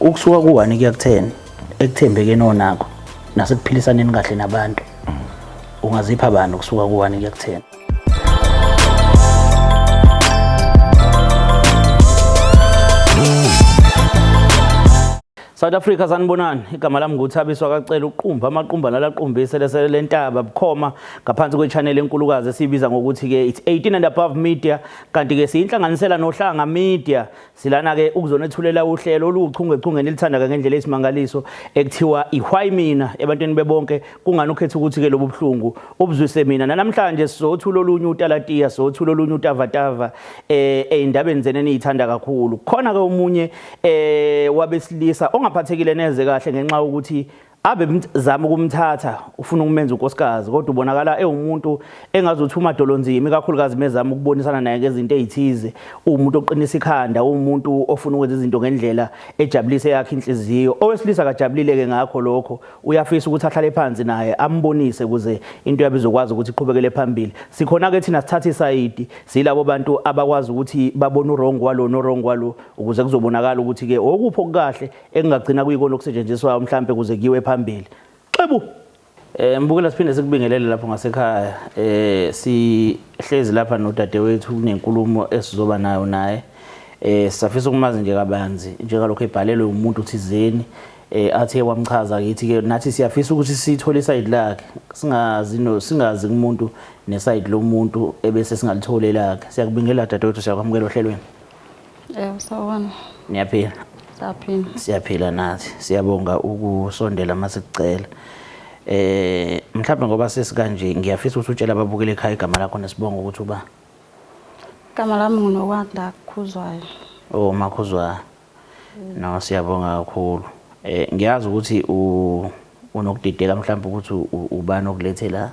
ukusuka ku-one kuya ku-ten ekuthembekeni onakho nasekuphilisaneni kahle nabantu ungazipha bani ukusuka ku-one kuya ku-ten South Africa sanibonani igama lami nguthabiswa kacela uqumba amaqumba nalaqumbise lese lentaba bukhoma ngaphansi kwechannel enkulukazi esibiza ngokuthi ke it's 18 and above media kanti ke siyinhlanganisela nohlanga media silana ke ukuzonethulela uhlelo oluchunge chunge nilithanda ke ngendlela esimangaliso ekuthiwa ihway mina ebantwini bebonke kungani ukhetha ukuthi ke lobuhlungu ubuzwise mina namhlanje sizothula olunye utalatiya sizothula olunye utavatava eh endabeni zene niyithanda kakhulu khona ke omunye eh wabesilisa ongaphathekile neze kahle ngenxa ukuthi abe zama ukumthatha ufuna ukumenza unkosikazi kodwa ubonakala ewumuntu engazothi umadolo nzima ikakhulukazi mezama ukubonisa naye ngezinto ezithize umuntu oqinisa ikhanda umuntu ofuna ukwenza izinto ngendlela ejabulise yakhe inhliziyo owesilisa kajabulile ke ngakho lokho uyafisa ukuthi ahlale phansi naye ambonise kuze into yabe izokwazi ukuthi iqhubekele phambili sikhona ke thina sithatha isayidi silabo bantu abakwazi ukuthi babone uwrong walo no wrong walo ukuze kuzobonakala ukuthi-ke okuphi okukahle ekungagcina kuyikona okusetshenziswayo mhlawumpe kuze kuyiwe phambili xebu Eh mbukela siphinde sikubingelele lapho ngasekhaya eh sihlezi lapha nodadewethu kunenkulumo esizoba nayo naye eh safisa ukumazi nje kabanzi njengalokho ebhalelwe umuntu thizeni eh athe wamchaza kithi ke nathi siyafisa ukuthi sithole iside lakhe singazi no singazi kumuntu neside lomuntu ebese singalitholela ke siyakubingelela dadewethu siyakwamukela ohlelweni Yebo sawubona. Niyaphila? Saphila. Siyaphila nathi. Siyabonga ukusondela masikucela. Eh mhlawumbe ngoba sesikanje ngiyafisa ukuthi utshela ababukele ekhaya igama lakho nesibongo ukuthi uba Igama lami nguNokwanda Khuzwayo. Oh makhuzwa. No siyabonga kakhulu. Eh ngiyazi ukuthi u Unokudideka mhlawumbe ukuthi ubani okulethe la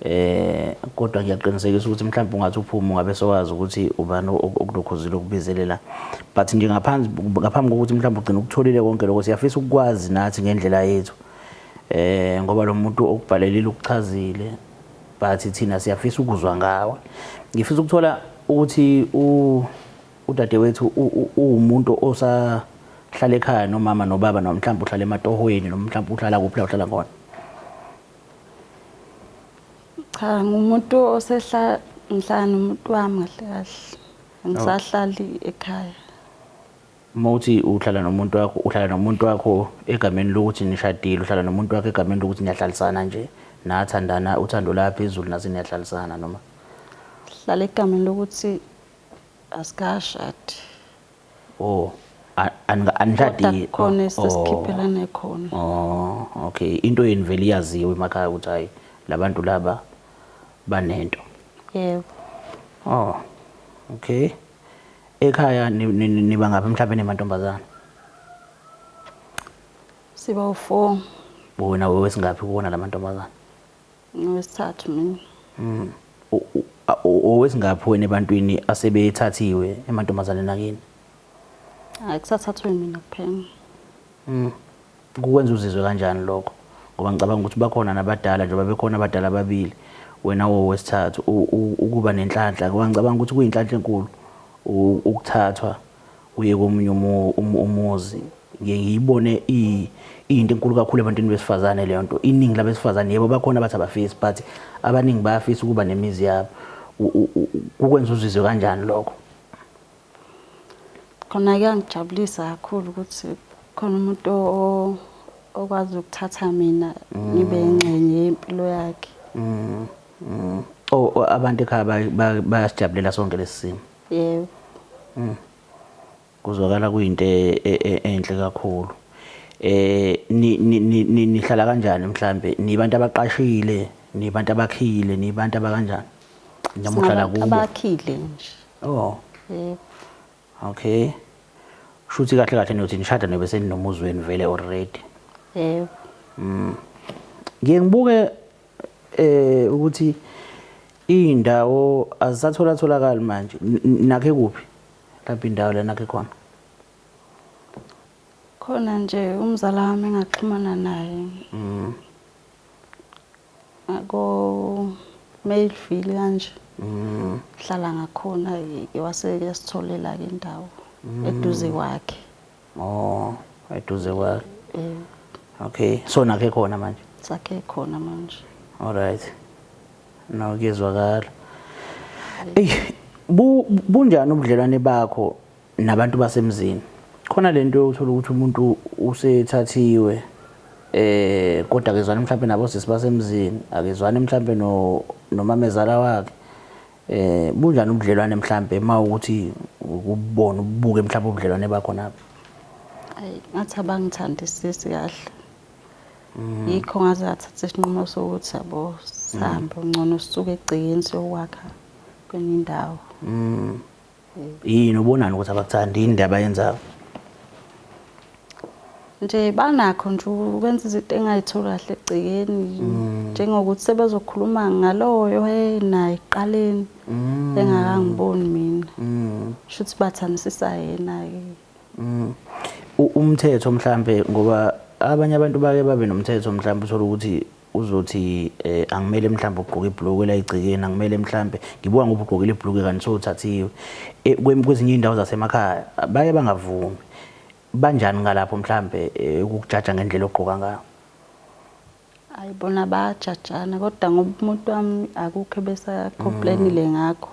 um kodwa ngiyaqinisekisa ukuthi mhlawumbe ungathi uphume ungabe sowazi ukuthi ubani okulokhuzile okubizelela but nje ngaphansi ngaphambi kokuthi mhlawumbe ugcine ukutholile konke lokho siyafisa ukukwazi nathi ngendlela yethu um ngoba lo muntu okubhalelile ukuchazile but thina siyafisa ukuzwa ngawe ngifisa ukuthola ukuthi Udadewethu uwumuntu osahlala ekhaya nomama nobaba noma mhlawumbe uhlala ematohweni noma mhlawumbe uhlala kuphi la uhlala khona? Cha ngumuntu osehla ngihlala nomuntu wami kahle kahle. Angisahlali ekhaya. Uma uthi uhlala nomuntu wakho uhlala nomuntu wakho egameni lokuthi nishadile uhlala nomuntu wakho egameni lokuthi niyahlalisana nje nathandana uthando laphezulu nase niyahlalisana noma? Hlala egameni lokuthi asikashadi oh a- anika- anishadi kodwa oh, khona oh. esesikhiphelane khona Oh, okay. Into yenu vele iyaziwa emakhaya ukuthi hayi labantu laba banento. yebo Oh. Okay. Ekhaya ni- ni- ni- niba ngaphi mhlawumbe nemantombazana? siba u-four Wena wewesingaphi kuwona lamantombazana? Ngowesithathu mina. Mm. Owesingaphi wena ebantwini asebethathiwe emantombazaneni akini? Hayi kusathathwe mina kuphela. Mm. Kukwenza uzizwe kanjani lokho? Ngoba ngicabanga ukuthi bakhona nabadala njengoba bekhona abadala ababili wena wowesithathu ukuba nenhlanhla ngoba ngicabanga ukuthi kuyinhlanhla enkulu ukuthathwa uye komunye umuzi ngiye ngiyibone iyinto enkulu kakhulu ebantwini besifazane leyo nto iningi labesifazane yebo bakhona abathi abafisi but abaningi bayafisa ukuba nemizi yabo kukwenza uzizwe kanjani lokho khona kuyangijabulisa kakhulu ukuthi khona umuntu okwazi ukuthatha mina ngibe mm. ingxenye yempilo yakhe mm, mm. oh abantu ekhaya bayasijabulela sonke lesi simo Yebo. Mm. Kuzwakala kuyinto e- e- e- enhle kakhulu. Eh ni- ni- ni- ni- nihlala kanjani mhlambe? Nibantu abaqashile, nibantu abakhile, nibantu abakanjani? Noma uhlala Singabantu kubo? abakhile nje. Oh, Yebo. okay. Shuthi kahle kahle nothi nishada nobe seninomuzi wenu vele already. Yebo. Ngiye ngibuke eh ukuthi indawo azisathola tholakala manje nakhe kuphi lapha indawo lena ke khona khona nje umzala wami engaxhumana naye mhm ako Mayfield kanje mhm hlala ngakhona ke wase yasitholela ke indawo mhm. eduze kwakhe Oh, eduze kwakhe. Eh, Okay, so nakhe khona manje. sakhe khona manje. Alright. No kuyezwakala. Ey, bu bunjani ubudlelwane bakho nabantu basemzini? Khona lento yokuthola ukuthi umuntu usethathiwe eh kodwa akezwani mhlawumbe nabo sisi basemzini, akezwani mhlawumbe no nomamezala wakhe. Eh bunjani ubudlelwane mhlambe mawukuthi ukubona ubuke mhlambe ubudlelwane bakhona apha. Ayi ngathi abangithandi sisi kahle. Mm. Yikho ngaze athatha isinqumo sokuthi yabo sihambe mm. ngcono sisuke egcekeni siyokwakha kwenye indawo. Mm. yini ubonani ukuthi abakuthandi yini ndaba yenzayo nje banakho nje ukwenza izinto engayitholi kahle egcekeni mm. njengokuthi sebezokhuluma ngaloyo naye eqaleni mm. engakangiboni mina mm. shuthi bathandisisa yena-ke umthetho mhlampe ngoba abanye abantu bake babe nomthetho mhlawumbe uthole ukuthi Uzothi angimele mhlawumbe ukugqoka ibhulukwe elayigcikeni, angimele mhlawumbe ngibuka ngoba ugqokile ibhulukwe kanti sowuthathiwe. E, kwezinye iy'ndawo zasemakhaya baye bangavumi. Banjani ngalapho mhlawumbe e, ukukujaja ngendlela ogqoka ngayo? Hayi bona bayajajana kodwa ngoba umuntu wami akukho ebesakhomplainile mm. ngakho.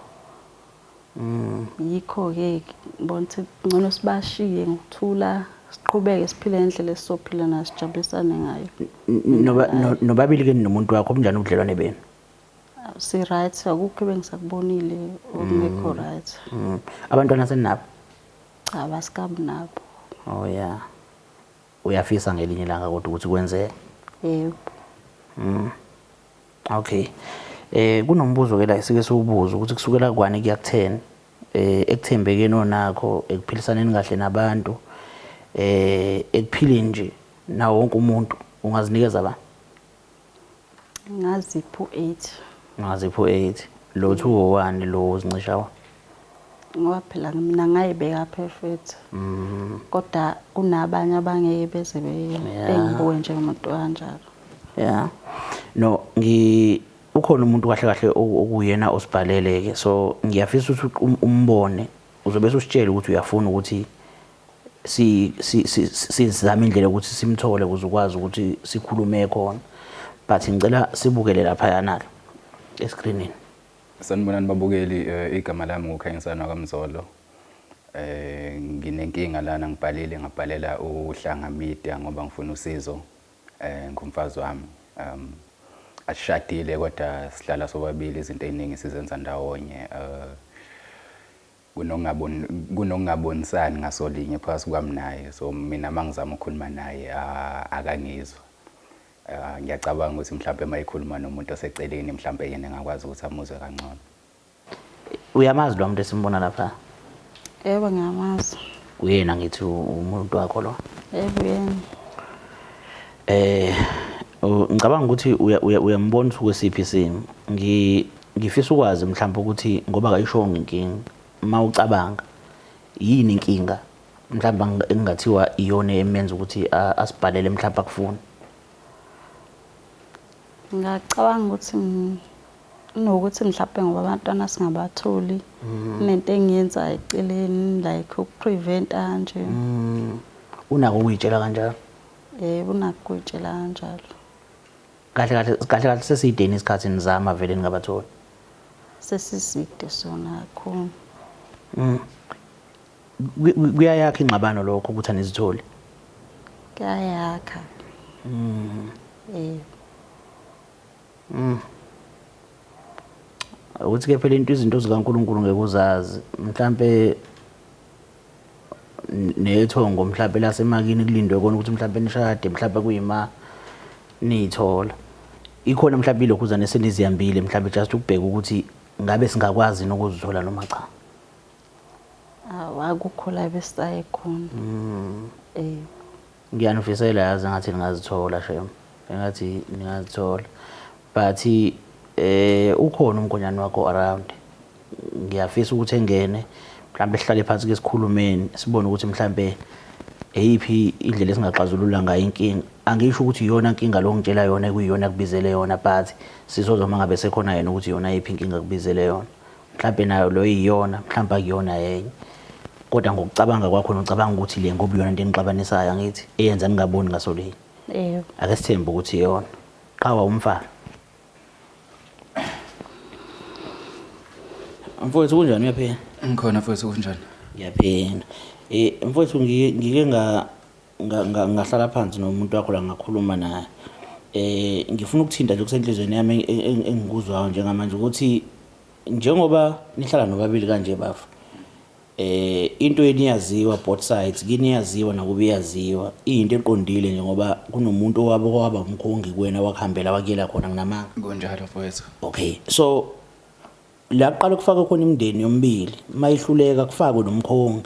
Mm. Yikho-ke ngibona ukuthi ngcono sibashiye ngokuthula siqhubeke siphile ngendlela esizophila nayo sijabulisane ngayo. Nobabili-ke nomuntu wakho obunjani ubudlelwane benu? Si-right, akukho ebengisakubonile okungekho mm. right. Mm. Abantwana seninabo? Cha, basikabi nabo. Oh yeah. Uyafisa ngelinye ilanga kodwa ukuthi kwenzeke? Yebo. Mm. Okay. Eh kunombuzo ke la sike siwubuza ukuthi kusukela kwani kuya kutheni eh ekuthembekeni onakho ekuphilisaneni kahle nabantu eh ekuphileni nje nawo wonke umuntu ungazinikeza ba Ngazipha u-eight. Ngazipha u-eight. Lo two owani lo uzincisha wa? Ngoba phela mina ngayibeka perfect. Mm. Kodwa kunabanye abangeke beze bengibuke njengomuntu kanjalo. Yeah. No, ngi ukhona umuntu kahle kahle okuyena osibhalele ke. So ngiyafisa ukuthi um, umbone. Uzobe usitshela ukuthi uyafuna ukuthi si sizama indlela yokuthi simthole ukuze ukwazi ukuthi sikhulume khona but ngicela sibukele laphayana ke escreenini sanibonani babukeli eh, igama lami ngukhanyisana wakamzolo eh nginenkinga lana ngibhalile ngabhalela uhlanga media ngoba ngifuna usizo eh ngumfazi wami um ashadile kodwa sihlala sobabili izinto eziningi sizenza ndawonye eh Kunokungabonisani ngasolinye phakathi kwami naye so mina mangizama ukukhuluma naye akangizwa. Ngiyacabanga ukuthi mhlampe mayikhuluma nomuntu oseceleni mhlampe yena engakwazi ukuthi amuzwe kangcono. Uyamazi lo muntu esimbona lapha? Yebo ngiyamazi. Uyena ngithi umuntu wakho lo? Yebo uyena. Eh ngicabanga ukuthi uyambona ukuthi kwesiphi isimo. Ngi Ngifisa ukwazi mhlawumbe ukuthi ngoba kayishongo inkinga uma ucabanga yini inkinga mhlawumbe engingathiwa iyona emenza ukuthi asibhalele mhlawumbe akufuni ngacabanga ukuthi nokuthi mhlawumbe ngoba abantwana singabatholi mm. nento engiyenza eceleni like ukupreventa nje mm. unako ukuyitshela kanjalo yebo unako ukuyitshela kanjalo kahle kahle kahle kahle sesideni isikhathi nizama vele ningabatholi sesiside sona kakhulu mm. kuyayakha ingxabano lokho ukuthi anizitholi kuyayakha mm. eh mm. ukuthi ke phela into izinto zikaNkuluNkulu ngeke uzazi mhlambe nethongo mhlawumbe lasemakini kulindwe kona ukuthi mhlawumbe nishade mhlawumbe kuyima niyithola ikhona mhlawumbe ilokhuzane esenizihambile mhlawumbe just ukubheka ukuthi ngabe singakwazi nokuzithola noma cha awakukho la besisaye khona mm. eh Ngiyanifisela yazi engathi ningazithola shem engathi ningazithola but eh ukhona umgonyane wakho around ngiyafisa ukuthi engene mhlawumbe sihlale phansi ke sikhulumeni sibone ukuthi mhlawumbe eyiphi indlela esingaxazulula ngayo inkinga angisho ukuthi iyona inkinga lo ngitshela yona ekuyiyona kubizele yona but sizozwa mangabe sekhona yena ukuthi yona iphi inkinga kubizele yona mhlampe nayo loyo iyona mhlampe akuyona yenye kodwa ngokucabanga kwakho nocabanga ukuthi le ngoba iyona into enixabanisayo angithi eyenza ningaboni ngaso linye yebo ake sithembe ukuthi iyona qhawa umfana mfowethu kunjani uyaphila ngikhona futhi kunjani ngiyaphila um mfowethu ngike nga Ngahlala phansi nomuntu wakho la ngakhuluma naye. Ngifuna ukuthinta nje okusenhlizweni yami engikuzwayo njengamanje ukuthi njengoba nihlala nobabili kanje bafo, into yenu iyaziwa both sides, kini iyaziwa nakubo iyaziwa. Iyinto eqondile nje ngoba kunomuntu owaba owaba umkhongi kuwena wakuhambela wakuyela khona, nginamanga? Kunjalo mfwethu. Okay. So, la kuqala kufaka khona imindeni yomibili mayihluleka kufakwe nomkhongi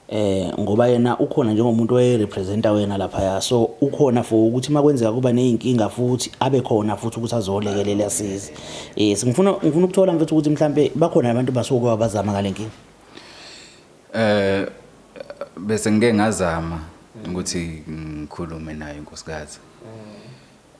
eh ngoba yena ukhona njengomuntu oyerepresenta wena lapha ya so ukhona for ukuthi makwenzeka kuba nezinkinga futhi abe khona futhi ukuthi azolekelela asize eh singifuna ngifuna ukuthola mfethu ukuthi mhlambe bakhona abantu basuke abazama ngalenkinga eh bese ngike ngazama ukuthi ngikhulume naye inkosikazi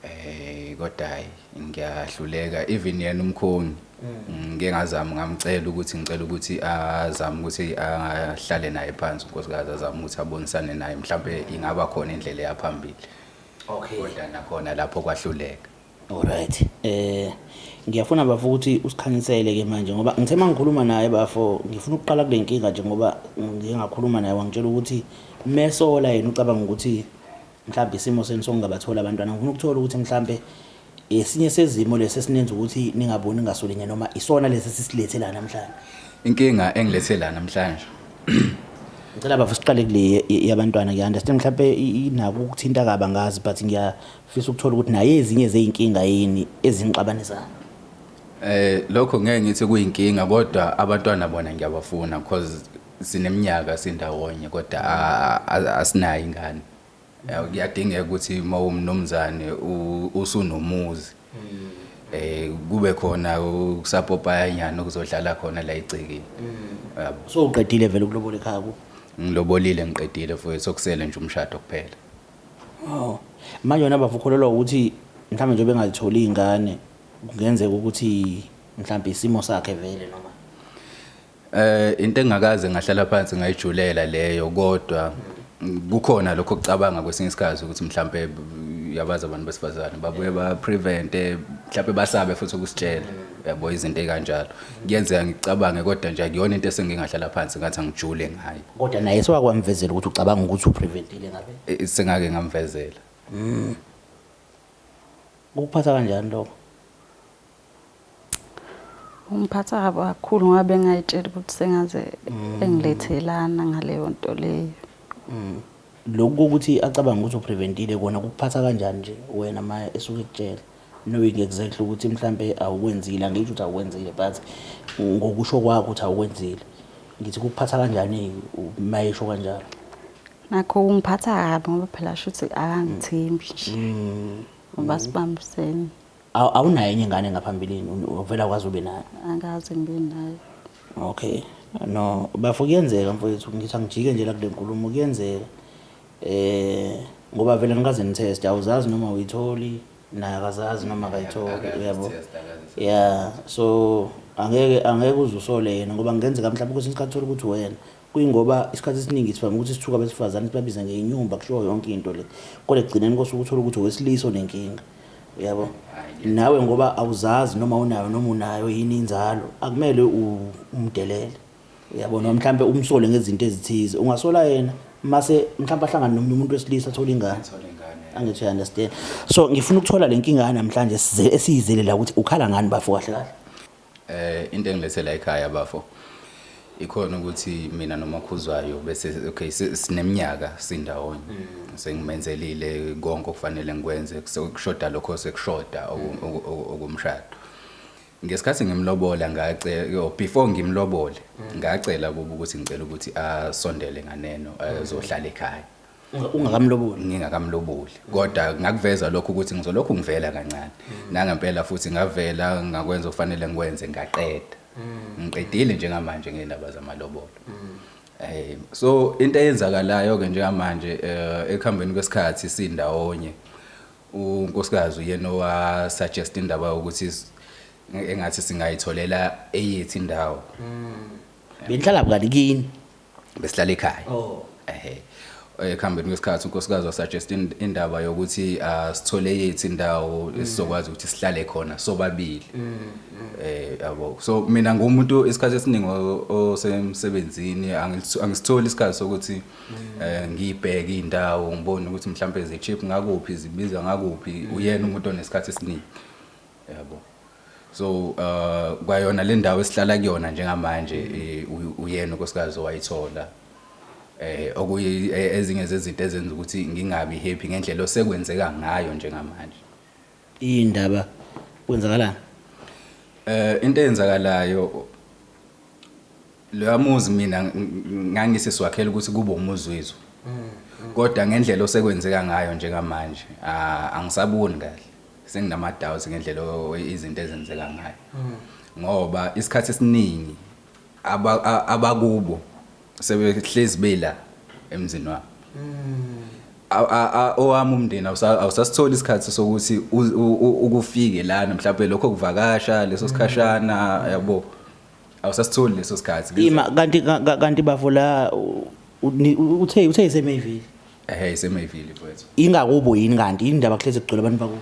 Ey kodwa hayi ngiyahluleka even yena umkhongi mm. ngike ngazama ngamcela ukuthi ngicela ukuthi azame ukuthi ahlale naye phansi unkosikazi azame ukuthi abonisane naye mhlawumbe ingaba khona indlela eyaphambili okay kodwa nakhona lapho kwahluleka alright eh ngiyafuna bafo ukuthi usikhanyisele ke manje ngoba ngithe mangikhuluma naye bafo ngifuna ukuqala kule nkinga nje ngoba ngingakhuluma naye wangitshela ukuthi mesola yena ucabanga ukuthi mhlawumbe isimo senu sokungabatholi abantwana ngifuna ukuthola ukuthi mhlawumbe esinye sezimo lesi esinenza ukuthi ningaboni ngasolinye noma isona lesi sisilethe la namhlanje inkinga engilethe la namhlanje ngicela bafo siqale kule yabantwana ngiyanderstand mhlawumbe inako ukuthinta kaba ngazi but ngiyafisa ukuthola ukuthi naye ezinye zeyinkinga yini ezingixabanisayo eh lokho ngeke ngithi kuyinkinga kodwa abantwana bona ngiyabafuna because Sineminyaka sindawonye kodwa asinayo ingane. Kuyadingeka ukuthi uma umnumzane usunomuzi eh kube khona ukusapopayanyana okuzodlala khona la egcekeni. Mm. So uqedile vele ukulobola ekhaya ku? Ngilobolile ngiqedile futhi sokusele nje umshado kuphela. Oh. Manje wena bavukholelwa ukuthi mhlawumbe nje bengazitholi izingane kungenzeka ukuthi mhlawumbe isimo sakhe vele noma Eh into engakaze ngahlala phansi ngayijulela leyo kodwa kukhona lokho kucabanga kwesinye isikhathi ukuthi mhlambe yabazi abantu besifazane babuye ba prevent eh, mhlambe basabe futhi ukusitshela yabo izinto ekanjalo kuyenzeka ngicabange kodwa nje akuyona into esengingahlala phansi ngathi angijule ngayo kodwa naye sewakwamvezela ukuthi ucabanga ukuthi upreventile ngabe Eh, sengake ngamvezela ukuphatha kanjani lokho Ungiphatha kabi kakhulu ngoba bengayitshela ukuthi sengaze mm. engilethelana ngaleyo nto leyo. Mm. Lokhu kokuthi acabanga ukuthi upreventile kona kukuphatha kanjani nje wena ma esuke ekutshela knowing exactly ukuthi mhlampe awukwenzile angisho ukuthi awukwenzile but ngokusho kwakho ukuthi awukwenzile ngithi kukuphatha kanjani mayesho kanjalo nakho ungiphatha kabi ngoba phela shuthi akangithembi nje mm. ngoba sibambisene Aw- awunayo enye ingane ngaphambilini Un- uvela kwazi ube nayo angazi ngibe nayo okay no bafo kuyenzeka mfowethu ngithi angijike nje la kule nkulumo kuyenzeka eh ngoba vele nikaze nitheste awuzazi noma uyitholi naye akazazi noma akayitholi Akazi uyabo test, akazi test. ya so angeke angeke uze usole yena ngoba ngenzeka mhlawumbe kwesinye isikhathi uthole ukuthi wena Kuyingoba isikhathi esiningi sivame ukuthi sithuke abesifazane sibabize ngenyumba kushiwo yonke into le. Kodwa ekugcineni kose ukuthola ukuthi owesilisa onenkinga. Uyabo? Nawe ngoba awuzazi noma unayo noma unayo yini inzalo, akumele umdelele. Uyabo noma mhlambe umsole ngezinto ezithize. Ungasola yena mase mhlambe ahlangane nomunye umuntu wesilisa athola ingane. Angithi uya understand. So ngifuna ukuthola lenkinga namhlanje esiyizele la ukuthi ukhala ngani bafo kahle kahle. Eh into engilethe la ekhaya bafo ikhona ukuthi mina nomakhuzwayo bese okay sineminyaka sindawonye mm. sengimenzelile konke okufanele ngikwenze kushoda lokho sekushoda okumshado ngesikhathi ngimlobola ngace yo before ngimlobole mm. ngacela kuba ukuthi ngicela ukuthi asondele nganeno azohlala ekhaya ungakamloboli ngingakamloboli kodwa ngakuveza lokho ukuthi ngizolokhu ngivela kancane nangempela futhi ngavela ngakwenza okufanele ngikwenze ngaqeda mm. ngiqedile njengamanje ngeindaba zamalobolo mm. eh so into eyenzakalayo ke njengamanje eh, ekuhambeni kwesikhathi sindawonye unkosikazi uyena owa suggest indaba ukuthi engathi singayitholela eyithi indawo mm. benhlala bukani kini besihlala ekhaya oh ehe ekuhambeni kwesikhathi unkosikazi wasuggest indaba yokuthi ah, sithole yethu indawo mm. esizokwazi ukuthi sihlale khona sobabili mm, mm. eh yabo so mina ngumuntu isikhathi esiningi osemsebenzini angisitholi isikhathi sokuthi eh, ngibheke indawo ngibone ukuthi mhlawumbe ze cheap ngakuphi zibiza ngakuphi uyena umuntu onesikhathi esiningi yabo so uh, kwayona le ndawo esihlala kuyona njengamanje eh, uy- uyena unkosikazi owayithola eh okuyi- eh, ezinye zezinto ezenza ukuthi ngingabi happy ngendlela osekwenzeka ngayo njengamanje Indaba kwenzakalani? eh into eyenzakalayo Loya muzi mina ngangise siwakhela ukuthi kube umuzi wethu. Kodwa ngendlela osekwenzeka ngayo njengamanje angisaboni kahle. Senginama doubts ngendlela izinto ezenzeka ngayo. Ngoba isikhathi esiningi abakubo sebehlezi bela emzini wami. owami umndeni awusasitholi isikhathi sokuthi ukufike lana mhlawumbe lokho kuvakasha leso sikhashana yabo awusasitholi leso sikhathi ima kanti kanti bafo la uthe uthe isemayville ehe isemayville mfowethu ingakubo yini kanti indaba kuhlezi kugcwele abantu bakubo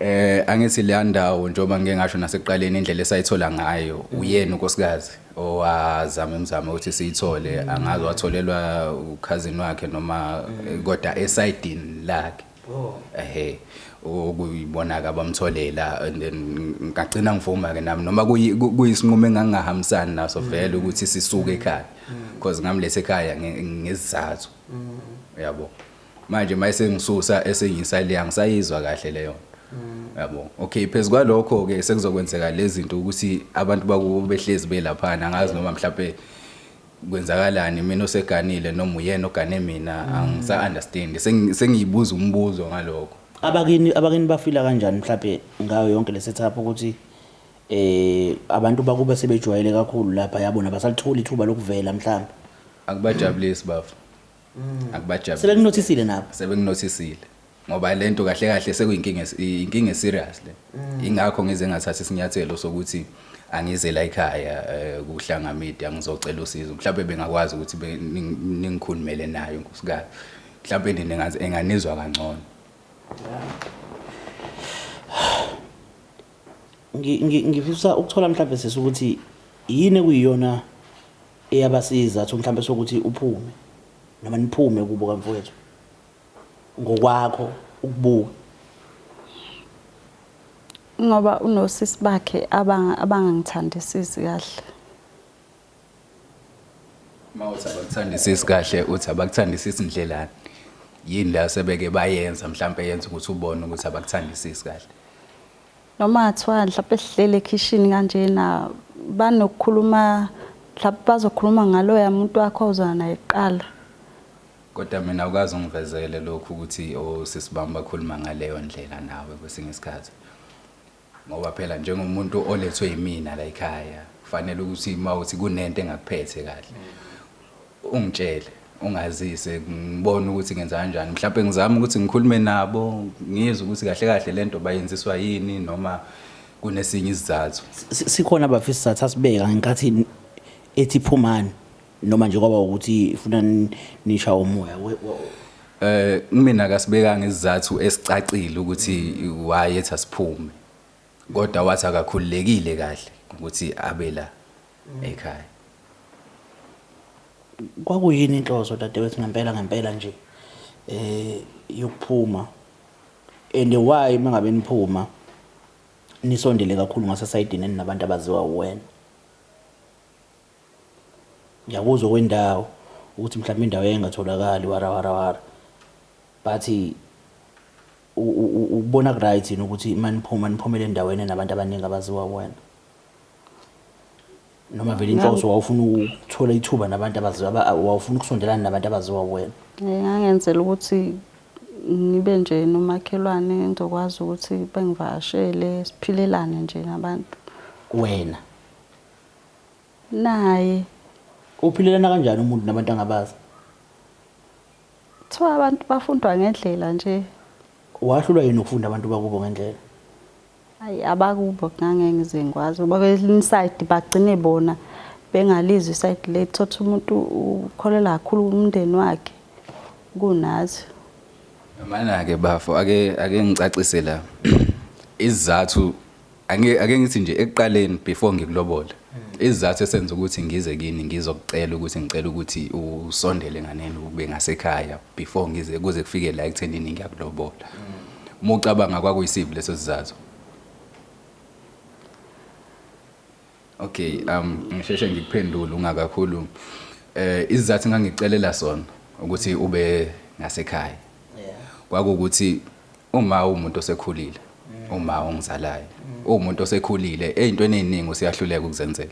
eh angithi leya ndawo njengoba ngike ngasho nasekuqaleni indlela esayithola ngayo uyena unkosikazi owazama umzamo ukuthi siyithole angazi watholelwa ukhazini wakhe noma kodwa esidini lakhe Oh. Ehhe okuyibonaka abamtholela and then ngagcina ngivuma ke nami noma kuyisinqumo engangahambisani naso mm. vele ukuthi sisuke mm. ekhaya because mm. ngamlethe ekhaya ngezizathu yabo manje mayise ngisusa esengisa le angisayizwa kahle leyo yabo okay phezu kwalokho ke sekuzokwenzeka lezi zinto ukuthi abantu bakubehlezi belaphana angazi noma mhlawumbe kwenzakalani mina oseganile noma uyena ogane mina mm. angisa understand sengiyibuza umbuzo ngaloko abakini abakini bafila kanjani mhlawumbe ngayo yonke le setup ukuthi eh abantu bakube sebejwayele kakhulu lapha yabona basalitholi ithuba lokuvela mhlawumbe akubajabulisi bafo mm. akubajabulisi sebekunothisile nabo sebekunothisile ngoba lento kahle kahle sekuyinkinga inkinga eserious le mm. ingakho ngize ngathatha isinyathelo sokuthi angize la ekhaya eh, kuhlanga media ngizocela usizo mhlawumbe bengakwazi ukuthi ningikhulumele nayo nkosikazi mhlawumbe nini ngazi enganizwa kangcono ngifisa ukuthola mhlawumbe sisi ukuthi yini ekuyiyona eyabasiza athi mhlawumbe sokuthi uphume noma niphume kubo kamfowethu ngokwakho ukubuka? Ngoba unosisi bakhe abangangithandisisi kahle. Uma uthi abakuthandisisi kahle uthi abakuthandisisi ndlelani? Yini la sebeke bayenza mhlawumbe yenza ukuthi ubone ukuthi abakuthandisisi kahle? Noma kuthiwa mhlawumbe sihlele ekhishini kanjena banokukhuluma mhlawumbe bazokhuluma ngaloya muntu wakho ozwana naye kuqala Kodwa mina awukaze ungivezele lokhu ukuthi osisi bami bakhuluma ngaleyo ndlela nawe kwesinye isikhathi. Ngoba phela njengomuntu olethwe yimina la ekhaya, kufanele ukuthi uma uthi kunento engakuphethe kahle ungitshele, ungazise ngibone ukuthi ngenza kanjani. Mhlawumbe ngizame ukuthi ngikhulume nabo, ngizwe ukuthi kahle kahle le nto bayenziswa yini noma kunesinye isizathu. Si- Sikhona abafisa isizathu asibeka ngenkathi ethi phumani. noma nje kwaba ukuthi ifuna nisha umoya eh mina kasibekanga isizathu esicacile ukuthi why ethi asiphume kodwa wathi akakhululekile kahle ukuthi abe la ekhaya kwakuyini inhloso dadewethu ngempela ngempela nje eh yokuphuma and why mangabe niphuma nisondele kakhulu ngasesayidini nabantu abaziwa uwena Ngiyakuzwa okwendawo ukuthi mhlawumbe indawo yayingatholakali warawarawara but ukubona kuright yini ukuthi maniphuma niphumele endaweni enabantu abaningi abaziwa wena noma vele inhloso wawufuna ukuthola ithuba nabantu abaziwa wawufuna ukusondelana nabantu abaziwa wena ngangenzela ukuthi ngibe nje nomakhelwane ngizokwazi ukuthi bengivashele siphilelane nje nabantu wena naye. Uphilelana kanjani umuntu nabantu angabazi? Kuthiwa abantu bafundwa ngendlela nje. Wahlulwa yini ukufunda abantu bakubo ngendlela? Ayi abakubo ngangeke ngize ngikwazi ngoba kwelinye isayidi bagcine bona bengalizwi isayidi lethu thothi umuntu ukholelwa kakhulu kumndeni wakhe kunathi. Mana-ke bafo ake ake ngicacise la izizathu Ange ake ngithi nje ekuqaleni before ngikulobole. Izizathu esenza ukuthi ngize kini ngizokucela ukuthi ngicela ukuthi usondele nganeni ube ngasekhaya before ngize kuze kufike la ekuthenini ngiyakulobola. Uma ucabanga kwakuyisiphi leso sizathu? Okay, um ngisheshe ngikuphendule ungakakhulumi. Eh izizathu engangicelela sona ukuthi ube ngasekhaya. Kwakukuthi uma umuntu osekhulile, uma ongizalayo, umuntu osekhulile ezintweni eziningi usiyahluleka ukuzenzela.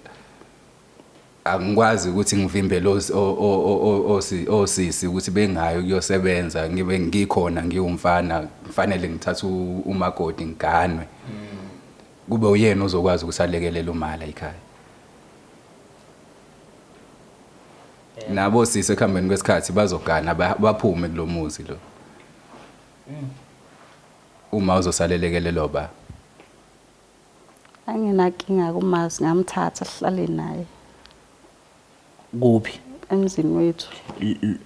Angikwazi ukuthi ngivimbe lo s- o- o- o- o- osi- osisi ukuthi bengayo kuyosebenza ngibe ngikhona ngiwumfana kufanele ngithathe u- umakoti ngiganwe. Kube uyena ozokwazi ukuthi alekelele umala ikhaya. Nabo sisi ekuhambeni kwesikhathi bazogana ba- baphume kulomuzi lo. Uma uzosalelekelelwa ba. Anginakinga kumazi ngamthatha sihlale naye kuphi emzini wethu. L- l-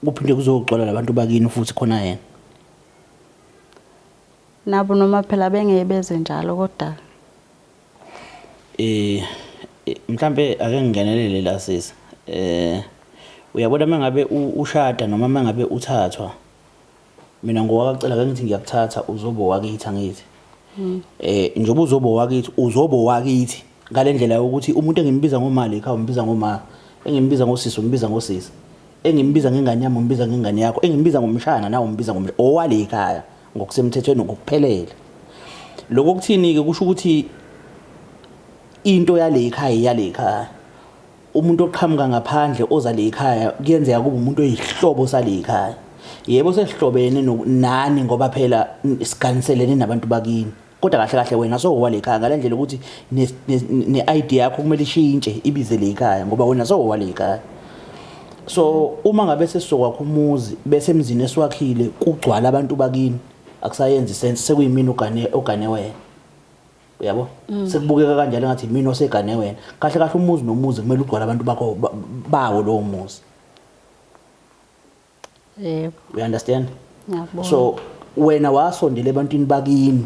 kuphi nje kuzoxola labantu bakini futhi khona yena Nabo noma phela bengeke beze njalo kodwa eh mhlambe ake ngingenelele la sisi eh uyabona mangabe ushada noma mangabe uthathwa mina ngowakacela ke ngithi ngiyakuthatha uzobo wakithi angithi hmm. eh njengoba uzobo wakithi uzobo wakithi ngale ndlela yokuthi umuntu engimbiza ngomali ekhaya umbiza ngoma engimbiza ngosisi umbiza ngosisi engimbiza ngengane yami umbiza ngengane yakho engimbiza ngomshana nawe umbiza ngomshana owale ekhaya ngokusemthethweni ngokuphelele lokho kuthini ke kusho ukuthi into yale ekhaya yale ekhaya umuntu oqhamuka ngaphandle oza le ekhaya kuyenzeka kube umuntu oyihlobo sale ekhaya yebo sesihlobene nani ngoba phela siganiselene nabantu bakini kodwa kahle kahle wena sowa lekhaya ngalendlela ukuthi ne ID yakho kumele ishintshe ibize lekhaya ngoba wena sowa lekhaya so uma ngabe sesizokwakha umuzi bese emzini esiwakhile kugcwala abantu bakini akusayenzi sense sekuyimina ugane ogane wena uyabo mm. sekubukeka kanjalo ngathi mina osegane wena kahle kahle umuzi nomuzi kumele ugcwala abantu bakho bawo lowo muzi yebo you understand ngiyakubona so wena wasondela ebantwini bakini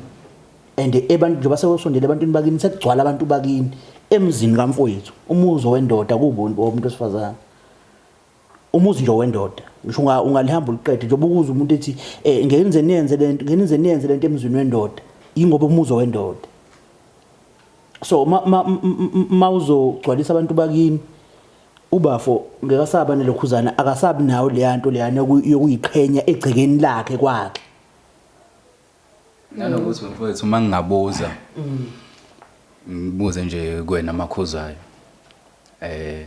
and abantu njengoba sewusondela ebantwini bakini sekugcwala abantu bakini emzini kamfowethu umuzi wendoda kubo umuntu osifazane umuzi nje wendoda ngisho unga ungalihamba uliqede njengoba ukuza umuntu ethi eh ngeke nize niyenze lento ngeke nize niyenze lento emzini wendoda ingoba umuzi wendoda so ma ma, ma, ma uzogcwalisa abantu bakini Ubafo ngeke asaba nelokhuzana akasabi nayo leyanto leyana yokuyiqhenya egcekeni lakhe kwakhe. Nanokuthi mfowethu uma ngingabuza ngibuze nje kuwena makhuzayo. Eh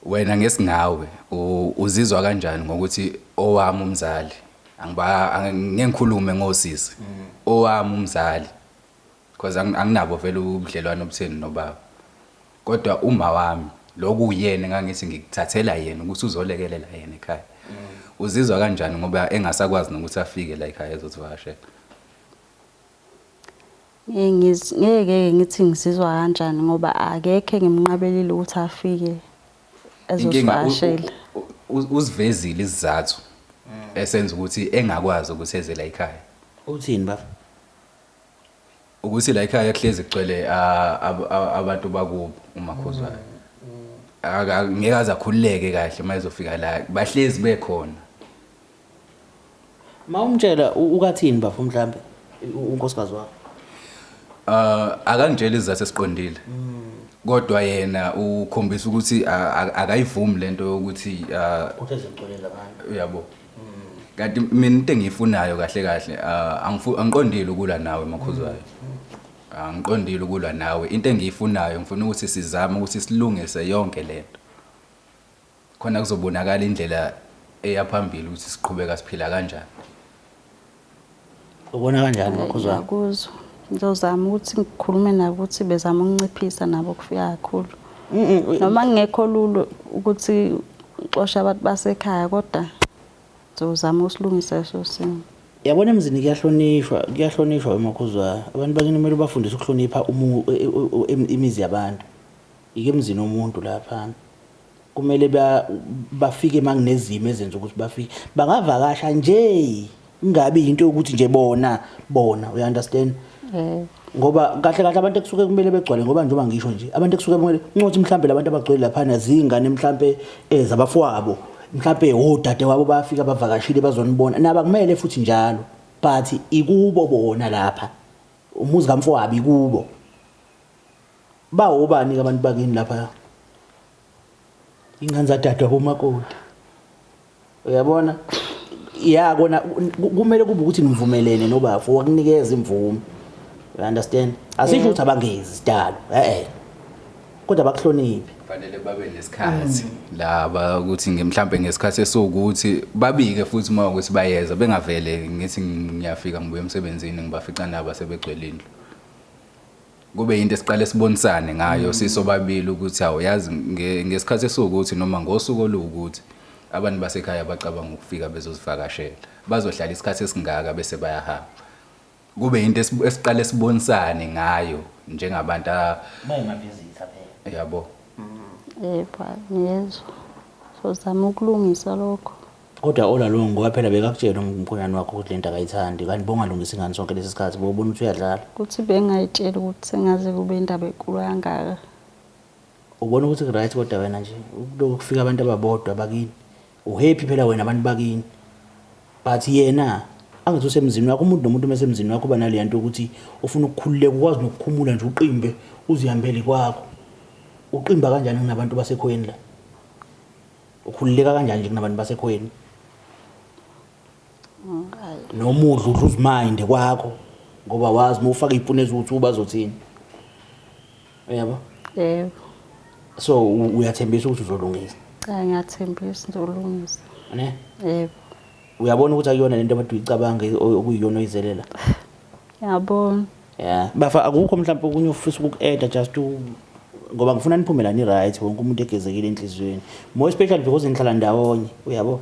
wena ngesingawe u- uzizwa kanjani ngokuthi owami umzali angiba angikhulume ngosisi owami umzali Cause ang- anginabo vele ubudlelwane obutheni nobaba. Kodwa uma wami lokhu uyena engangithi ngikuthathela yena ukuthi uzolekelela yena ekhaya. Uzizwa kanjani ngoba engasakwazi nokuthi afike la ekhaya ezosivakashela? Ngeke ngiz- ngeke ngithi ngizizwa kanjani ngoba akekho engimnqabelile ukuthi afike Inkinga u- ezosivakashela u- u- u- uzivezile isizathu esenza ukuthi engakwazi ukuthi eze la ekhaya. Uthini baba? ukuthi la ekhaya kuhlezi kugcwele abantu bakubo umakhuzwayo ngeke aze akhululeke kahle uma ezofika la bahlezi bekhona ma umtshela ukathini bafo mhlambe unkosikazi wakho uh akangitshela izizathu esiqondile kodwa yena ukhombisa ukuthi akayivumi lento yokuthi uh, uyabo kanti mina into engiyifunayo kahle kahle ah, angifu- angiqondile ukulwa nawe makhuzwayo angiqondile ukulwa nawe into engiyifunayo ngifuna ukuthi sizame ukuthi silungise yonke le nto khona kuzobonakala indlela eya phambili ukuthi siqhubeka siphila kanjani ubona kanjani makhuzwana ngiyakuzwa ngizozama ukuthi ngikhulume nabo ukuthi bezama ukunciphisa nabo ukufika kakhulu noma ngingekho lulu ukuthi uxoshe abantu basekhaya kodwa ngizozama usilungisa leso simo yabona emzini kuyahlonishwa kuyahlonishwa emakhuzwa abantu bakini kumele ubafundise ukuhlonipha e, e, e, imizi yabantu yike emzini womuntu lapha kumele bafike uma kunezimo ezenza ukuthi bafike bangavakasha nje ingabi yinto yokuthi nje bona bona uya understand eh. ngoba kahle kahle abantu ekusuke kumele begcwale ngoba njengoba ngisho nje abantu ekusuke kumele uncothi mhlambe labantu abagcwele laphana zingane mhlambe ezabafowabo eh, mhlambe odade wabo bayafika bavakashile bazonibona naba kumele futhi njalo but ikubo bona lapha umuzi kamfowabo ikubo Bawobani ke abantu bakini lapha? Ingane zadadwa bomakoti. Uyabona? Ya kona kumele kube ukuthi nivumelene nobafo wakunikeza imvume. You understand? Asisho ukuthi abangezi sidalo. Eh eh. Kodwa bakuhloniphi. Fanele babe nesikhathi laba ukuthi nge- mhlampe ngesikhathi esiwukuthi babike futhi uma ukuthi bayeza bengavele ngithi ngiyafika ngibuye emsebenzini ngibafica nabo sebegcwele indlu. kube yinto esiqale sibonisane ngayo mm. sisobabili ukuthi hawu yazi ngesikhathi esiwukuthi noma ngosuku oluwukuthi abantu basekhaya bacabanga ukufika bezozivakashela bazohlala isikhathi esingaka bese bayahamba kube yinto esiqale sibonisane ngayo njengabantu bayingavisitha phela yabo mm. yebo ngiyezwa sozama ukulungisa lokho Kodwa Ola lo ngoba phela bekakutshela umkhonyane wakho ukuthi lento akayithandi kanti bongalungisa ingane sonke lesi sikhathi bobona ukuthi uyadlala. Ukuthi bengayitshela ukuthi sengaze kube indaba enkulu kangaka. Ubona ukuthi right kodwa wena nje lokhu kufika abantu ababodwa bakini. Uhappy phela wena abantu bakini. But yena angathi usemzini wakho umuntu nomuntu mesemzini wakho uba naleya nto ukuthi ufuna ukukhululeka ukwazi nokukhumula nje uqimbe uzihambele kwakho. Uqimba kanjani kunabantu basekhoyeni la? ukhululeka kanjani nje kunabantu basekhweni nomudla udla uziminde kwakho ngoba wazi uma ufaka iy'puni eziwuthu bazothini uyabo yebo so u- uyathembisa ukuthi uzolungisa cha ngiyathembisa ngizolungisa ne yebo uyabona ukuthi akuyona lento abantu uyicabange o- okuyiyona oyizelela yabona Yeah. Bafa akukho mhlawumbe okunye ofisa ukuku-add just to ngoba ngifuna niphume lani right wonke umuntu egezekile enhliziyweni more especially because nihlala ndawonye uyabo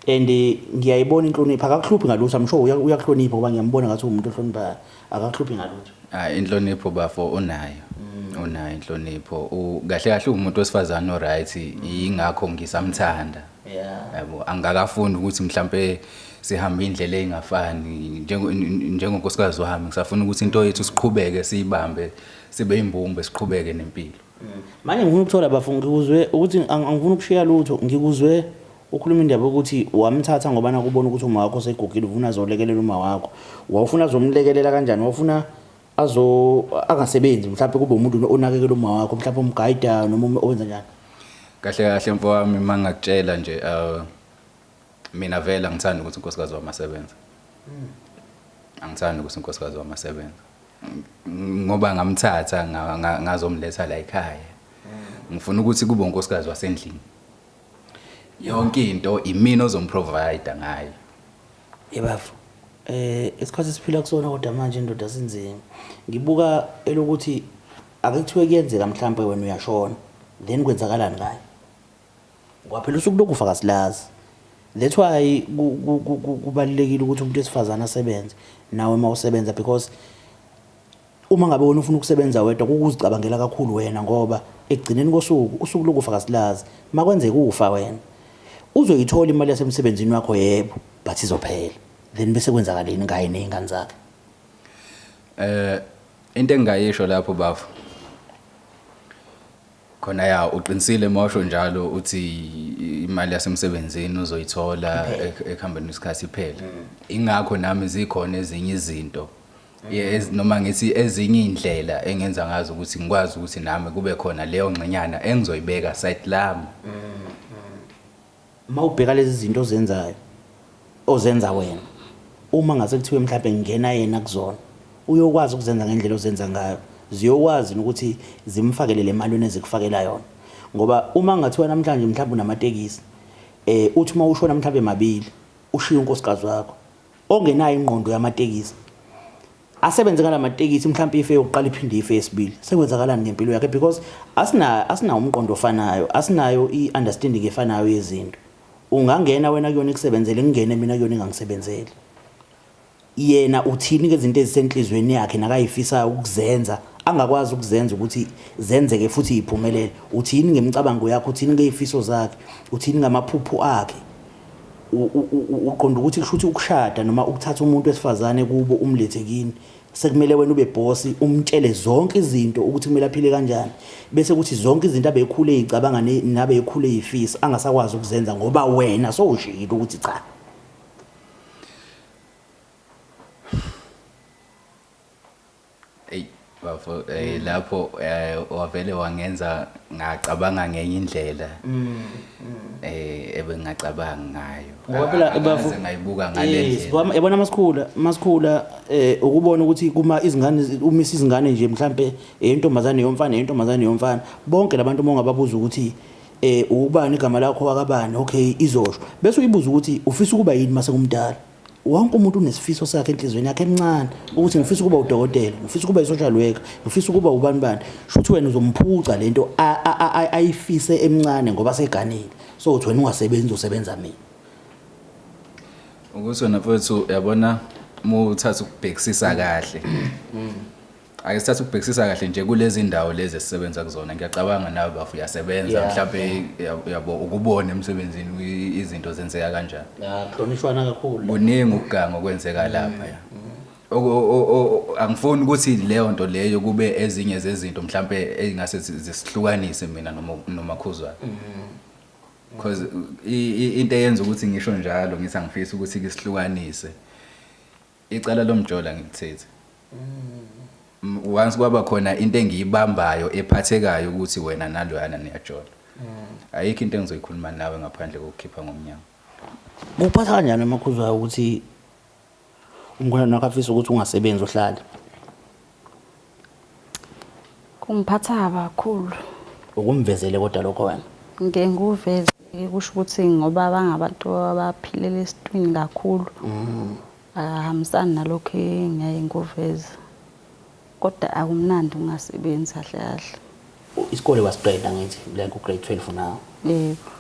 and eh, ngiyayibona inhlonipho akakuhluphi ngalutho i'm sure uya- uyakuhlonipha ngoba ngiyambona ngathi uwumuntu ohloniphayo akakuhluphi ngalutho Ah inhlonipho bafo unayo. Unayo inhlonipho. U- Kahle kahle umuntu wesifazane oright ingakho ngisamthanda. yeah yabo angikakafuni ukuthi mhlambe sihambe indlela engafani njengo njengonkosikazi wami ngisafuna ukuthi into yethu siqhubeke siyibambe sibe imbumbe siqhubeke nempilo mm. manje ngifuna ukuthola bafu ngikuzwe ukuthi angifuni ukushiya lutho ngikuzwe ukhuluma indaba yokuthi wamthatha ngoba nakubona ukuthi uma wakho segugile ufuna zolekelela uma wakho wawufuna zomlekelela kanjani wawufuna azo angasebenzi mhlawumbe kube umuntu onakekela uma wakho mhlawumbe umgayida noma um-, owenza njani kahle kahle mfowami uma ngakutshela nje uh, mina vele angithandi ukuthi unkosikazi wami asebenze hmm. angithandi ukuthi unkosikazi wami asebenze ngoba ngamthatha ngazomletha la ekhaya hmm. ngifuna ukuthi kube unkosikazi wasendlini yonke into imina ozomprovider ngayo Yebafo. Eh isikhathi esiphila kusona kodwa manje indoda sinzima. Ngibuka elokuthi ake kuthiwe kuyenzeka mhlambe wena uyashona. Then kwenzakalani ngayo? Ngoba phela usuku lokufa kasilazi. That's why kubalekile ukuthi umuntu wesifazana asebenze nawe mawusebenza because Uma ngabe wena ufuna ukusebenza wedwa kukuzicabangela kakhulu wena ngoba ekugcineni kosuku usuku lokufa kasilazi makwenzeka ufa wena uzoyithola imali yasemsebenzini wakho yebo but izophela then bese kwenzakaleni ngaye nezingane zakhe eh into engingayisho lapho bafo khona ya uqinisile mosho njalo uthi imali yasemsebenzini uzoyithola ekuhambeni isikhathi iphele ingakho nami zikhona ezinye izinto Yes, noma ngithi ezinye indlela engenza ngazo ukuthi ngikwazi ukuthi nami kube khona leyo ngxenyana engizoyibeka side lami. Uma ubheka lezi zinto ozenzayo ozenza wena uma ngase kuthiwe mhlawumbe ngingena yena kuzona uyokwazi ukuzenza ngendlela ozenza ngayo ziyokwazi ukuthi zimfakele le mali nezikufakela yona ngoba uma ngathiwa namhlanje mhlawumbe unamatekisi eh uthi uma ushona mhlawumbe mabili ushiya unkosikazi wakho ongenayo ingqondo yamatekisi asebenze ngala matekisi mhlawumbe ife yokuqala iphinde ife yesibili sekwenzakalani ngempilo yakhe because asina asinawo umqondo ofanayo asinayo i-understanding efanayo yezinto ungangena wena kuyona ikusebenzele ngingene mina kuyona ingangisebenzeli yena uthini ke izinto ezisenhlizweni yakhe nakayifisayo ukuzenza angakwazi ukuzenza ukuthi zenzeke futhi iphumelele uthini ngemicabango yakhe uthini ngezifiso zakhe uthini ngamaphupho akhe uqonda ukuthi kusho ukuthi ukushada noma ukuthatha umuntu wesifazane kubo umlethe kini sekumele wena ube bhosi umtshele zonke izinto ukuthi kumele aphile kanjani bese kuthi zonke izinto abekhule ezicabanga nabe ekhule ezifisa angasakwazi ukuzenza ngoba wena sowushiyile ukuthi cha eyi bafo eh, mm. lapho eh, wavele wangenza ngacabanga ngenye indlela mm, mm. eh ebengingacabanga ngayo ngoba phela ah, bafo ngayibuka ngalendlela yabona masikhula masikhula eh ukubona ukuthi kuma izingane umisa izingane nje mhlambe eyintombazane eh, yomfana eyintombazane eh, yomfana bonke labantu uma ungababuza ukuthi eh ubani igama lakho wakabani okay izosho bese uyibuza ukuthi ufisa ukuba yini mase kumdala wonke umuntu unesifiso sakhe enhlizweni yakhe emncane ukuthi ngifisa ukuba udokotela ngifisa ukuba isosha lweka ngifisa ukuba ubani bani shuthi wena uzomphuca lento ayifise emncane ngoba seganile so uthi wena ungasebenzi usebenza mina ukuthi wena mfowethu yabona uma uthatha ukubhekisisa kahle Ake sithathe ukubhekisisa kahle nje kulezi ndawo lezi esisebenza kuzona ngiyacabanga nawe bafu uyasebenza Yeah. mhlawumbe uya- uyabo ukubona emsebenzini i- izinto zenzeka kanjani Ya, kuhlonishwana kakhulu. kuningi ukuganga okwenzeka lapha ya Oku- o- o- o- angifuni ukuthi leyo nto leyo kube ezinye zezinto mhlawumbe ey'ngase zi- zisihlukanise mina noMo- nomakhuzwana because i- i- into eyenza ukuthi ngisho njalo ngithi angifisi ukuthi kisihlukanise Icala lomjola ngilithethe. Once kwaba khona into engiyibambayo ephathekayo ukuthi wena naloyana niyajola. Ayikho into engizoyikhuluma nawe ngaphandle kokukhipha ngomnyango. Kuphatha kanjani emakhuzwayo ukuthi umkhwenyana wakho afisa ukuthi ungasebenzi uhlale? Kungiphatha kabi kakhulu. Ukumvezele kodwa lokho wena? Ngike ngikuveze kusho ukuthi ngoba bangabantu abaphilela esitwini kakhulu mm. akahambisani nalokho engiyaye ngikuveze kodwa akumnandi ungasebenzi kahle kahle isikole wasiqeda ngithi like ugrade 12 nawo yebo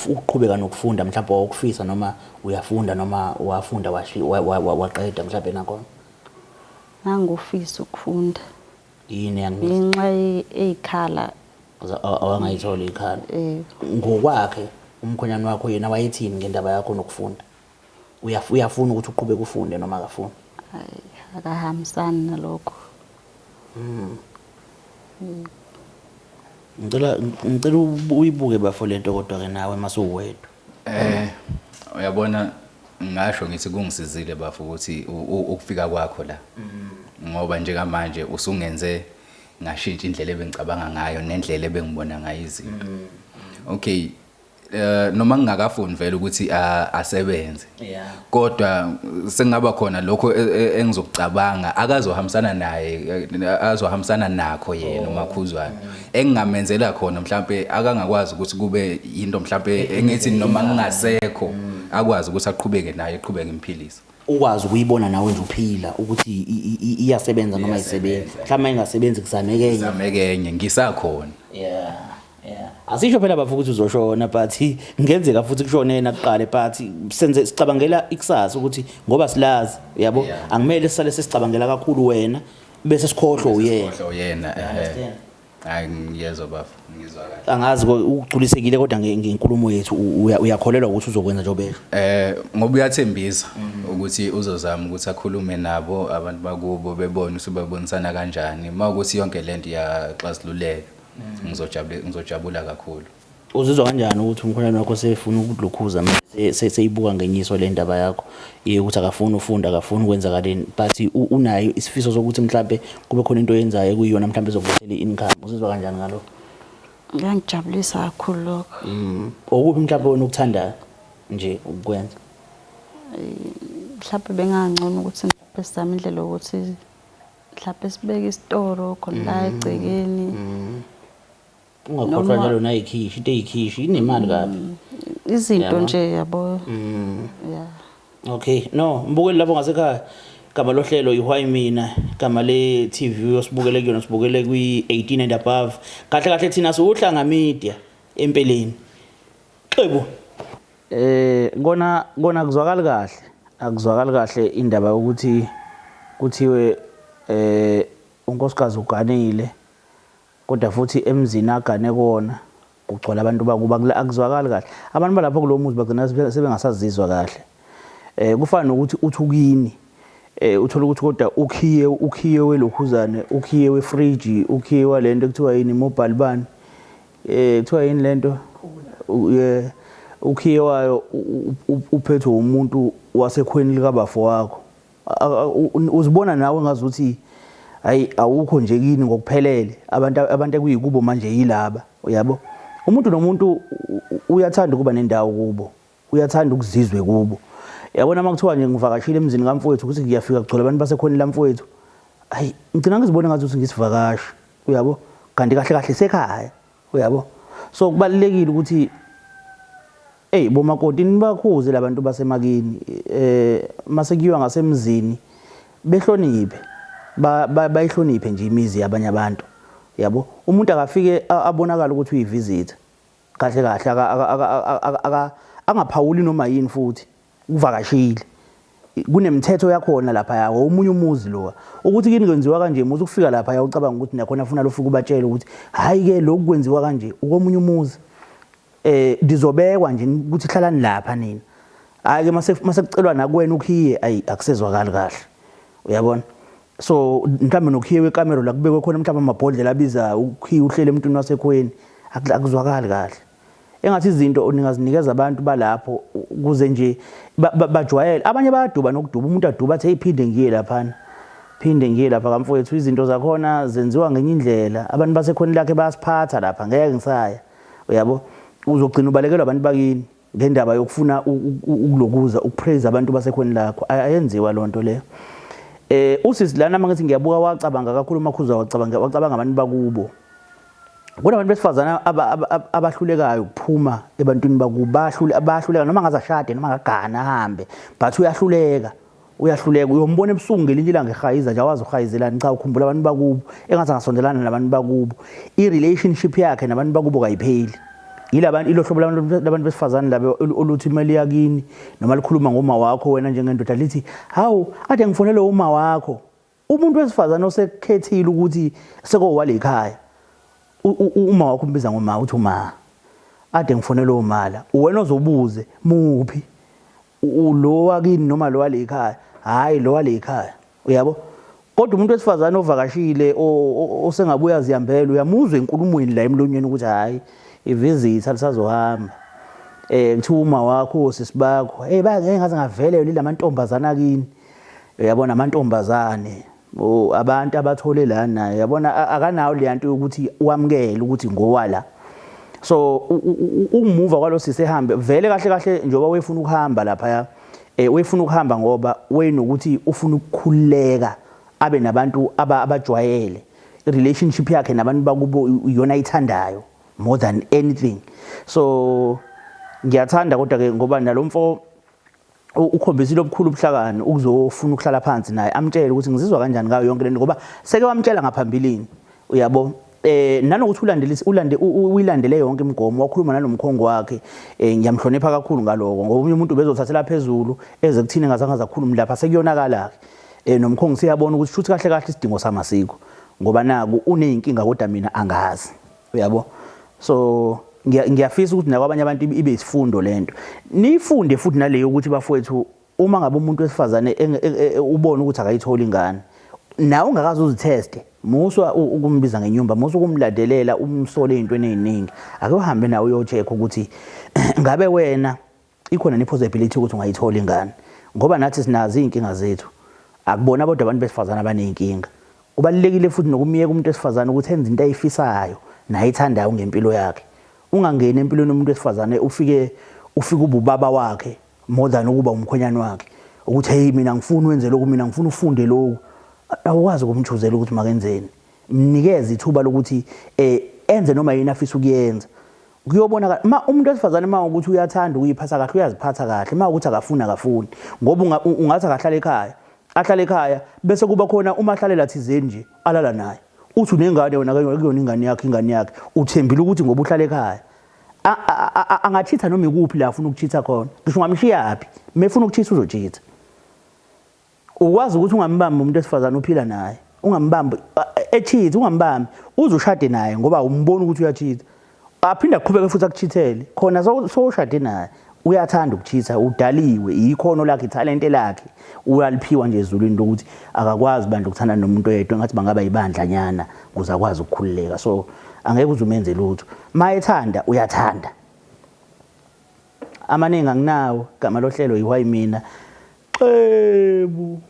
ukuqhubeka nokufunda mhlawumbe wawukufisa noma uyafunda noma wafunda waqeda mhlawumbe nakhona Ngangufisa ukufunda. Yini yangithi? Ngenxa eyikhala. Awangayitholi ikhala. Eh. Ngokwakhe umkhonyana wakho yena wayethini ngendaba yakho nokufunda? Uyafuna ukuthi uqhubeke ufunde noma akafuni? Hayi, akahambisani nalokho. Mm. Mm. Ngicela ngicela uyibuke bafo lento kodwa ke nawe masuwedwa. Eh uyabona ngasho ngithi kungisizile bafo ukuthi ukufika kwakho la ngoba njengamanje usungenze ngashintsha indlela ebengicabanga ngayo nendlela ebengibona ngayo izinto okay eh noma ngingakafuni vele ukuthi asebenze kodwa sengaba khona lokho e, e, engizokucabanga akazohambisana naye e, azohambisana nakho yena oh. umakhuzwana engingamenzela khona mhlambe akangakwazi ukuthi kube into mhlambe engithi noma ngingasekho mm. akwazi ukuthi aqhubeke naye eqhubeke imphilisa ukwazi ukuyibona nawe nje uphila ukuthi iyasebenza noma ayisebenzi mhlawumbe ingasebenzi kuzameke enye kuzameke enye ngisakhona yeah asisho phela bafo ukuthi uzoshona but ngenzeka futhi kushone yena kuqale but senze sicabangela ikusasa ukuthi ngoba silazi yabo Yeah. angimele sisale sesicabangela kakhulu wena bese sikhohlwe uyena Khohlwa uyena ehe understand. hayi ngiyezwa bafo ngizwa kahle angazi ko- ugculisekile kodwa nge- ngenkulumo yethu u- uya- uyakholelwa ukuthi uzokwenza njengoba esho eh ngoba uyathembisa ukuthi uzozama ukuthi akhulume nabo abantu bakubo bebone ukuthi babonisana kanjani mawukuthi yonke lento iyaxazululeka ngizojabula ngizojabula kakhulu uzizwa kanjani ukuthi umkhwenyana wakho sefuna ukulukhuza mase seyibuka ngenyiso le ndaba yakho ye ukuthi akafuni ufunda akafuni ukwenzakaleni but unayo isifiso sokuthi mhlambe kube khona into oyenzayo ekuyiyona mhlambe ezokuthela i-income uzizwa kanjani ngalokho ngangijabulisa kakhulu lokho mm. okuphi mhlambe wena ukuthandayo nje ukwenza mhlawumbe bengangcono ukuthi ngiphe sami indlela yokuthi mhlawumbe sibeke isitoro khona la mm. egcekeni mm. ungakhohlwa njalo nayikhishi into eyikhishi inemali kabi mm. izinto nje yabo ya okay no mbukeli lapho ngasekhaya gama lohlelo ihwayi mina gama le TV osibukele kuyona sibukele kwi 18 and above kahle kahle thina siwuhlanga media empeleni xebo Eh ngona ngona kuzwakala kahle. Akuzwakali kahle indaba yokuthi kuthiwe eh unkosikazi uganile kodwa futhi emzini agane kuona kugcwala abantu bakuba akuzwakali kahle. Abantu balapho kulomuzi bagcina sebengasazizwa kahle. Eh kufana nokuthi uthukini eh uthola ukuthi kodwa ukhiye ukhiye welokhuzane ukhiye wefridge ukhiye walento kuthiwa yini mobile bani Eh kuthiwa yini lento? Ye ukhiye wayo uphethwe umuntu wasekhweni likabafo wakho. Uzibona nawe ngazuthi hayi awukho nje kini ngokuphelele. Abantu abantu ekuyikubo manje yilaba. Uyabo? Umuntu nomuntu uyathanda ukuba nendawo kubo. Uyathanda ukuzizwe kubo. Yabona uma kuthiwa nje ngivakashile emzini kamfowethu ukuthi ngiyafika kugcwele abantu basekhonile lamfowethu. Ayi, ngigcina ngizibona ngathi ukuthi ngisivakashi. Uyabo? Kanti kahle kahle sekhaya. Uyabo? So kubalekile ukuthi Ey bomakoti nibakhuze labantu basemakini eh mase kuyiwa ngasemzini behloniphe bayihloniphe nje imizi yabanye abantu yabo umuntu akafike abonakala ukuthi uyivisit Kahle kahle aka aka aka aka aka angaphawuli noma yini futhi kuvakashile. Kunemithetho yakhona lapha ya omunye umuzi lo. Ukuthi kini kwenziwa kanje muthi ukufika lapha ya ucabanga ukuthi nakhona ufuna lofika ubatshela ukuthi hayi ke lokhu kwenziwa kanje ukomunye umuzi. Eh dizobekwa nje ukuthi hlalani lapha nina. Hayi ke mase mase kucelwa nakuwena ukhiye ayi akusezwakali kahle. Uyabona? so mhlawumbe nokhiye wekamero la kubekwe khona mhlawumbe amabhodlela abiza ukhiye uhlele emntwini wasekhweni akuzwakali kahle engathi izinto ningazinikeza abantu balapho kuze nje bajwayele abanye bayaduba nokuduba umuntu aduba athi eyiphinde ngiye laphana phinde ngiye lapha kamfowethu izinto zakhona zenziwa ngenye indlela abantu basekhona lakhe bayasiphatha lapha ngeke ngisaya uyabo uzogcina ubalekelwa abantu bakini ngendaba yokufuna ukulokuza ukupraise abantu basekhweni lakho ayenziwa lonto le eh usisi lana mangithi ngiyabuka wacabanga kakhulu makhuza wacabanga wacabanga abantu bakubo kunabantu besifazana abahlulekayo ukuphuma ebantwini bakubahlule abahluleka noma ngazashade noma ngagana ahambe but uyahluleka uyahluleka uyombona ebusuku ngelinye ilanga ehayiza nje awazi uhayizelani cha ukhumbula abantu bakubo engathi angasondelana nabantu bakubo i-relationship yakhe nabantu bakubo kayipheli yilabantu ilo hlobo labantu besifazane laba oluthi imali yakini noma likhuluma ngoma wakho wena njengendoda lithi hawu ade ngifonele uma wakho Umuntu wesifazane osekhethile ukuthi sekowalekhaya uma wakho umbiza ngoma uthi uma ade ngifonela omala uwena ozobuze muphi lo wakini noma lo walekhaya hayi lo walekhaya uyabo kodwa umuntu wesifazane ovakashile osengabuya ziyambela uyamuzwa enkulumweni la emlonyeni ukuthi hayi ivizitha lisazohamba eh kuthiwa uma wakho sisibakho hey bangeke ngaze ngavele yona lamantombazana kini Uyabona amantombazane oh, abantu abathole la naye yabona akanawo le nto yokuthi wamukele ukuthi ngowala so ukumuva kwalosisi ehambe vele kahle kahle njengoba wefuna ukuhamba lapha eh wefuna ukuhamba ngoba wayenokuthi ufuna ukukhuleka abe nabantu abajwayele relationship yakhe nabantu bakubo iyona ithandayo more than anything so ngiyathanda kodwa ke ngoba nalomfo ukhombisile obukhulu ubuhlakani ukuzofuna ukuhlala phansi naye amtshele ukuthi ngizizwa kanjani ngayo yonke lento ngoba seke wamtshela ngaphambilini uyabo eh nanokuthi ulandelise ulande uyilandele yonke imigomo wakhuluma nanomkhongo wakhe eh ngiyamhlonipha kakhulu ngaloko ngoba umunye umuntu bezothathela phezulu eze kuthini ngazange zakhuluma lapha sekuyonakala ke eh nomkhongo siyabona ukuthi shuthi kahle kahle isidingo samasiko ngoba naku uneyinkinga kodwa mina angazi uyabo so ngiyafisa ukuthi nakwabanye abantu ibe isifundo lento nifunde futhi naleyo ukuthi bafowethu uma ngabe umuntu wesifazane e, e, e, ubona ukuthi akayitholi ingane nawe ungakaze uzitheste muswa ukumbiza ngenyumba muswa ukumladelela umsole into eningi ake uhambe nawe uyocheck ukuthi ngabe wena Ikhona ni possibility ukuthi ungayithola ingane ngoba nathi sinazo izinkinga zethu. Akubona bodwa abantu besifazana abanezinkinga. Kubalulekile futhi nokumyeka umuntu wesifazana ukuthi enze into ayifisayo nayithandayo ngempilo yakhe. Ungangeni empilweni yomuntu wesifazane ufike ufike ububaba wakhe more than ukuba umkhwenyana wakhe. Ukuthi hey mina ngifuna wenze lokhu mina ngifuna ufunde lokhu. Awukwazi ukumchuzela ukuthi makenzeni. Mnikeze ithuba lokuthi eh enze noma yini afisa ukuyenza. kuyobonakala uma umuntu wesifazane uma ukuthi uyathanda ukuyiphatha kahle uyaziphatha kahle uma ukuthi akafuni akafuni ngoba ungathi akahlala ekhaya ahlala ekhaya bese kuba khona uma ahlalela thizeni nje alala naye uthi unengane wena kuyona ingane yakhe ingane yakhe uthembile ukuthi ngoba uhlala ekhaya angachitha noma ikuphi la afuna ukuchitha khona ngisho ungamshiyaphi mefuna ukuchitha uzochitha ukwazi ukuthi ungambambi umuntu esifazane uphila naye ungambambi echeat ungambambi uze ushade naye ngoba umbona ukuthi uyacheat aphinde aqhubeke futhi akuchithele khona sowushade naye uyathanda ukuchitha udaliwe ikhono lakhe ithalente lakhe uyaliphiwa nje ezulwini lokuthi akakwazi bandla ukuthanda nomuntu oyedwa ngathi bangaba yibandla nyana kuze akwazi ukukhululeka so angeke uze umenze lutho mayethanda uyathanda Amaningi anginawo gama lohlelo yi why mina xebu.